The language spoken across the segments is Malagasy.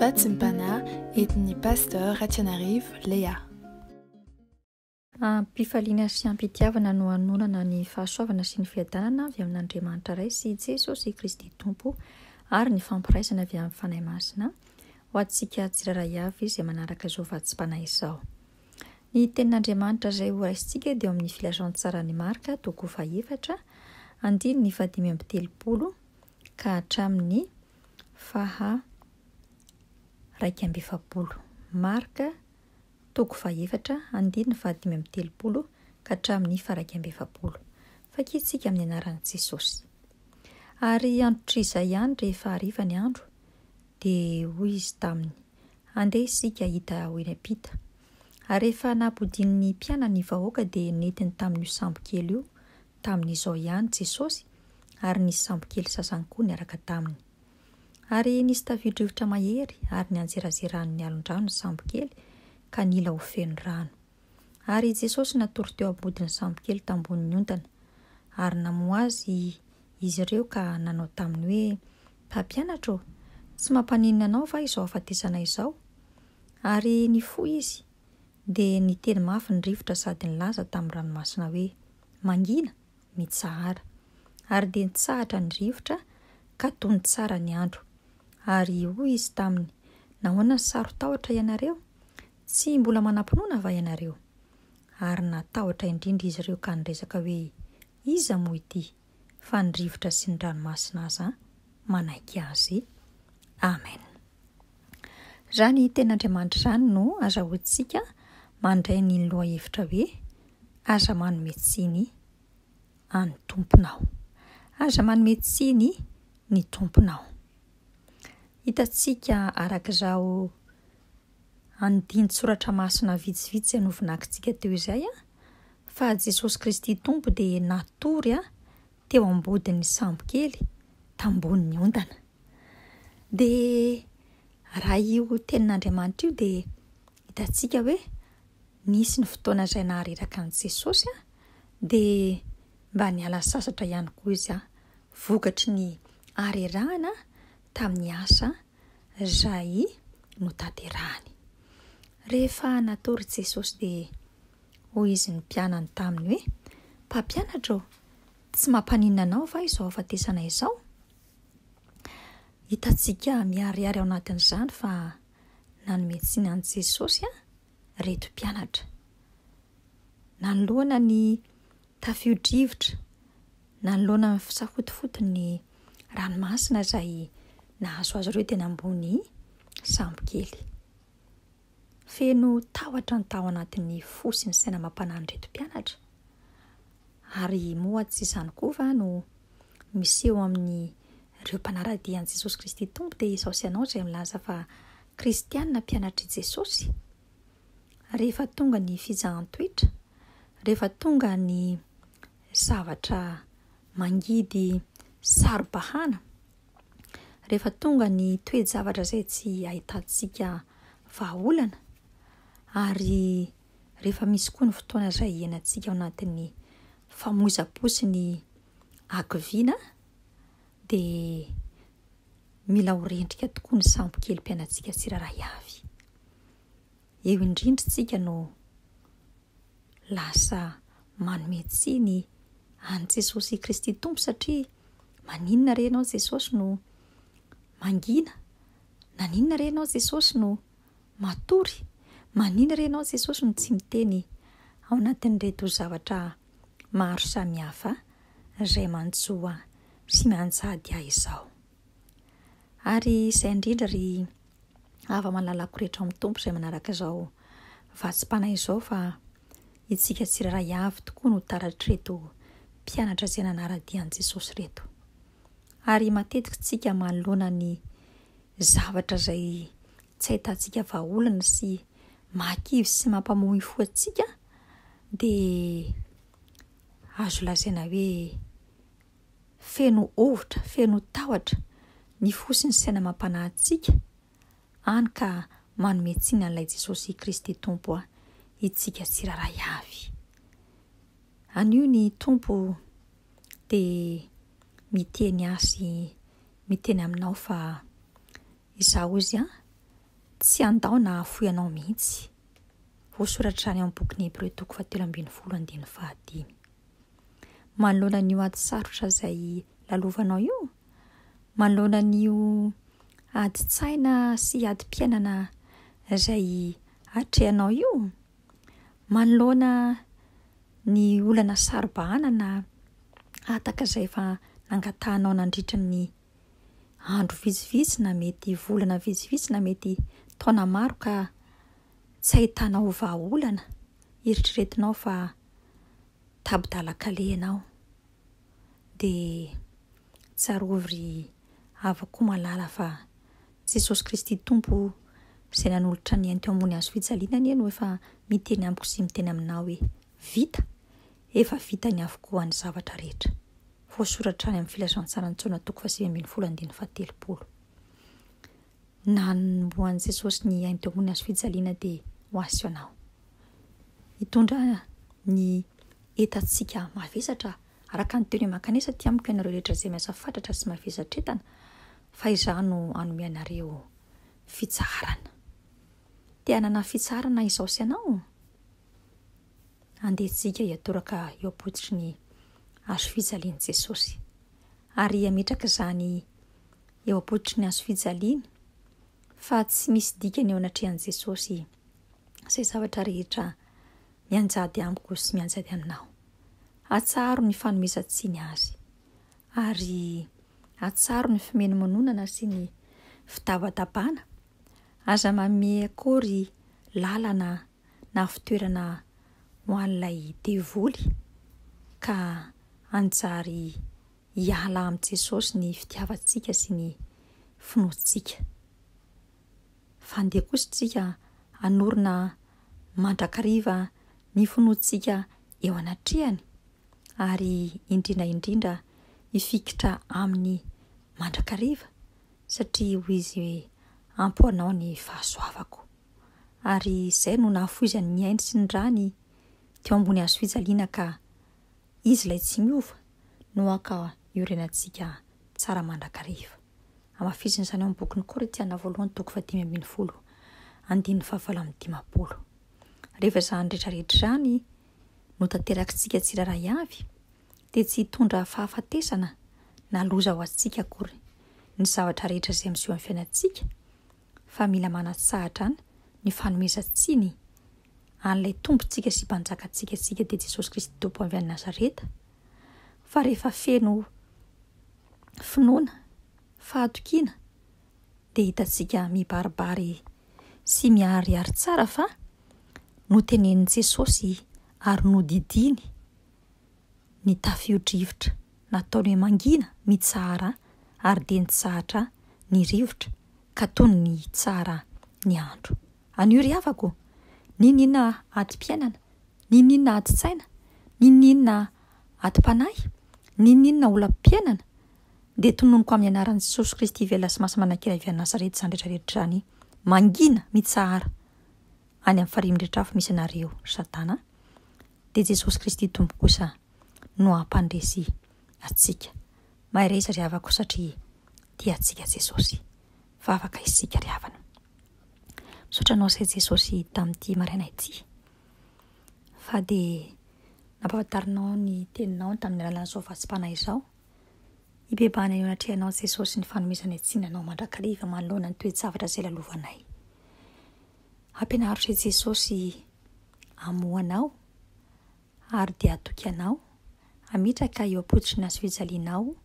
Fatsimpana entin'ny Pasteur Ratsianarivo Léa. Am-pifaliana sy am-pitiavana no hanonana ny fahasoavana sy ny fiadanana avy amin'Andriamanitra Ray sy Jesosy Kristy Tompo ary ny fampiraisana avy amin'ny Fanahy Masina ho antsika tsirairay avy izay manaraka izao fatsimpana izao. Ny Tenin'Andriamanitra izay horaisintsika dia ao amin'ny Filazantsaran'i Marka, toko fahaefatra, andininy fahadimy amby telopolo, ka hatramin'ny faha iraika amby efapolo. Marka toko fahaefatra andininy fahadimy amby telopolo ka hatramin'ny faha iraika amby efapolo. Fakiantsika amin'ny anaran'i Jesosy. Ary androtr'izay ihany rehefa hariva ny andro, dia hoy izy taminy, Andeha isika hahita ahy eny am-pita. Ary rehefa nampodian'ny mpianany ny vahoaka dia nentiny tamin'io sambo kely io Tamin'izao ihany Jesosy ary nisy sambokely sasany koa niaraka taminy. Ary nisy taviodrivotra mahery ary nianjerazeran'ny alondrano ny sambokely ka nila ho feno rano. Ary i Jesosy natory teo am-bodin'ny sambokely tambohon'ny ontana. Ary namoha Azy izy ireo ka nanao taminy hoe, Mpampianatra ô, tsy mampaninona Anao va izao hahafatesana izao? Ary nifoha Izy. dia niteny mafy ny rivotra sady nilaza tamin'ny ranomasina hoe, Mangina, mitsahara. Ary dia nitsahatra ny rivotra ka tony tsara ny andro. Ary hoy Izy taminy, Nahoana no saro-tahotra ianareo? Tsy mbola manam-pinoana va ianareo? Ary natahotra indrindra izy ireo ka niresaka hoe, Iza moa ity? fa ny rivotra sy ny ranomasina aza manaiky azy. Amen. Izany teny Andriamanitra izany no azahoantsika mandray ny lohahevitra hoe aza manome tsiny an'ny tomponao. Aza manome tsiny ny tomponao. Hitantsika araka izao andinin-tsoratra masina vitsivitsy izay novonakintsika teo izay an, fa Jesosy Kristy Tompo dia natory teo am-bodin'ny sambokely tambohon'ny ondana. Dia raha io tenin'Andriamanitra io dia hitantsika hoe nisy ny fotoana izay nahareraka an'i Jesosy dia mba niala sasatra ihany koa izy vokatry ny harerahana tamin'ny asa izay notanterahany. Rehefa natory Jesosy dia hoy Izy ny mpianany taminy hoe, Mpampianatra ô, tsy mampaninona anao va izao hahafatesana izao? Hitantsika miharihary ao anatin'izany fa nanome tsiny an'i Jesosy reto mpianatra. Nanoloana ny tafio-drivotra, nanoloana ny fisafotofoton'ny ranomasina izay nahazo azy ireo teny ambony sambo kely. Feno tahotra ny tao anatin'ny fo sy ny saina amam-panan'ireto mpianatra ary moa tsy izany koa va no miseho amin'ireo mpanara-dia an'i Jesosy Kristy Tompo dia izao sy ianao izay milaza fa Kristiana mpianatr'i Jesosy? Rehefa tonga ny fizahan-toetra, rehefa tonga ny zavatra mangidy saro-bahana, rehefa tonga ny toe-javatra izay tsy ahitantsika vahaolana, ary rehefa misy koa ny fotoana izay iainantsika ao anatin'ny famoizam-po sy ny hakiviana, dia mila ho rendrika tokoa ny sambo kely mpianatsika tsirairay avy. Eo indrindra isika no lasa manome tsiny an'i Jesosy i Kristy Tompo satria maninona re ianao Jesosy no mangina? Naninona re ianao Jesosy no Matory, maninona re ianao Jesosy no tsy miteny ao anatin'ireto zavatra maro samihafa izay manjo ahy sy mianjady ahy izao? Ary izay indrindra ry hava-malalako rehetra ao amin'ny Tompo izay manaraka izao vatsim-panahy izao fa itsika tsirairay avy tokoa no taratr'ireto mpianatra izay nanara-dia an'i Jesosy ireto. Ary matetika tsika manoloana ny zavatra izay tsy ahitantsika vahaolana sy mahakivy sy mampamoy fo antsika dia azo lazaina hoe feno hovitra, feno tahotra ny fo sy ny saina amam-panahy antsika, hany ka manome tsiny an'ilay Jesosy Kristy Tompo aho itsika tsirairay avy. Anio ny Tompo. dia miteny azy miteny aminao fa izaho hozy an, tsy handao na hahafoy anao mihitsy. Voasoratra any amin'ny bokin'ny Hebreo toko fahatelo ambin'ny folo andininy fahadimy. Manoloana an'io ady sarotra izay lalovanao io, manoloana an'io adin-tsaina sy adim-piainana izay atrehanao io, Manoloana ny olana saro-bahana na hataka izay efa nangatahanao nandritra ny andro vitsivitsy na mety volana vitsivitsy na mety taona maro ka tsy ahitanao vahaolana, eritreretinao fa tapi-dalan-kaleha ianao. dia tsarovy ry havako malala fa Jesosy Kristy Tompo izay nanolotra ny ainy teo ambony hazo fijaliana anie no efa miteny amiko sy miteny aminao hoe vita, efa vitany avokoa ny zavatra rehetra. Voasoratra any amin'ny filazantsaran'i Jaona toko fahasivy ambin'ny folo andininy fahatelopolo. Nanombohan'i Jesosy ny hain-dohany hazo fijaliana dia ho azy sy anao. Hitondra ny entantsika mavesatra araka ny teony Makanesa aty amiko ianareo rehetra izay miasa fatratra sy mavesatr'entana fa izaho no hanome anareo fitsaharana. Te hanana fitsaharana izaho sy ianao? Andeha isika hiatoraka eo am-pototry ny hazo fijalian'i Jesosy. Ary hametraka izany eo am-pototry ny hazo fijaliany fa tsy misy dikany eo anatrehan'i Jesosy izay zavatra rehetra mianjady amiko sy mianjady aminao. Atsaharo ny fanomezan-tsiny azy ary atsaharo ny fimenomenonana sy ny fitabatabana. Aza manome akory lalana na fitoerana ho an'ilay devoly ka hanjary hiala amin'i Jesosy ny fitiavantsika sy ny finoantsika. Fandeha kosa isika hanorina mandrakariva ny finoantsika eo anatrehany ary indrindra indrindra hifikitra aminy mandrakariva satria hoy izy hoe ampy ho anao ny fahasoavako. ary izay no nahafoizany ny ainy sy ny rany teo ambony hazo fijaliana ka Izy ilay tsy miova no haka iorenantsika tsara mandrakariva. Hamafisina izany ao amin'ny bokin'ny Korintiana voalohany toko fahadimy ambin'ny folo andininy fahavalo amin'ny dimampolo. Rehefa izany rehetrarehetra izany no tanterakintsika tsirairay avy dia tsy hitondra fahafatesana na loza ho antsika akory ny zavatra rehetra izay miseho amin'ny fiainantsika fa mila manatsahadrana ny fanomezan-tsiny an'ilay Tompontsika sy Mpanjakantsika antsika dia Jesosy Kristy Tompo avy any Nazareta, fa rehefa feno finoana, fahatokiana dia hitantsika mibaribary sy miharihary tsara fa notenenin'i Jesosy ary nodidiany ny tafio-drivotra nataony hoe mangina mitsahara ary dia nitsahatra ny rivotra ka toy ny hitsara ny andro. Anio ry havako ô! Ninoninona adim-piainana? Ninoninona adin-tsaina? Ninoninona adim-panahy? Ninoninona olam-piainana? Dia tononiko amin'ny anaran'i Jesosy Kristy velona sy masina manankiray avy any Nazareth izany rehetra rehetra izany. Mangina mitsahara any amin'ny farihy mirehitra afo misy anareo Satana a! dia Jesosy Kristy Tompo kosa no hampandresy antsika. Mahay resy ry havako satria tia antsika Jesosy. Vavaka isika ry havana. Misaotra anao se Jesosy tamin'ity maraina ity. Fa dia nampafantarinao ny teninao tamin'ny alalan'izao vatsim-panahy izao. Hibebahana eo anatrehanao Jesosy ny fanomezana ny tsinanao mandrakariva manoloana ny toe-javatra izay lalovanay. Ampianarotra i Jesosy hamoha anao ary dia hatoky anao hametraka eo am-pototry ny hazofijalianao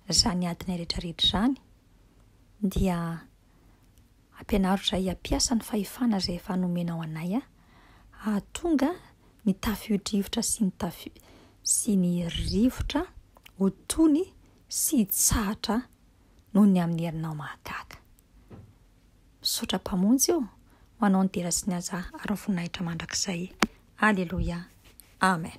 izany adinay rehetrarehetra izany, dia ampianarotra ahy hampiasa ny fahefana izay efa nomenao anay aho, hahatonga ny tafio-drivotra sy ny tafio- sy ny rivotra ho tony sy hitsahatra noho ny amin'ny herinao mahagaga. Misaotra Mpamonjy ô, ho Anao ny dera sy ny haja ary ny voninahitra mandrakizay. Aleloia. Amen.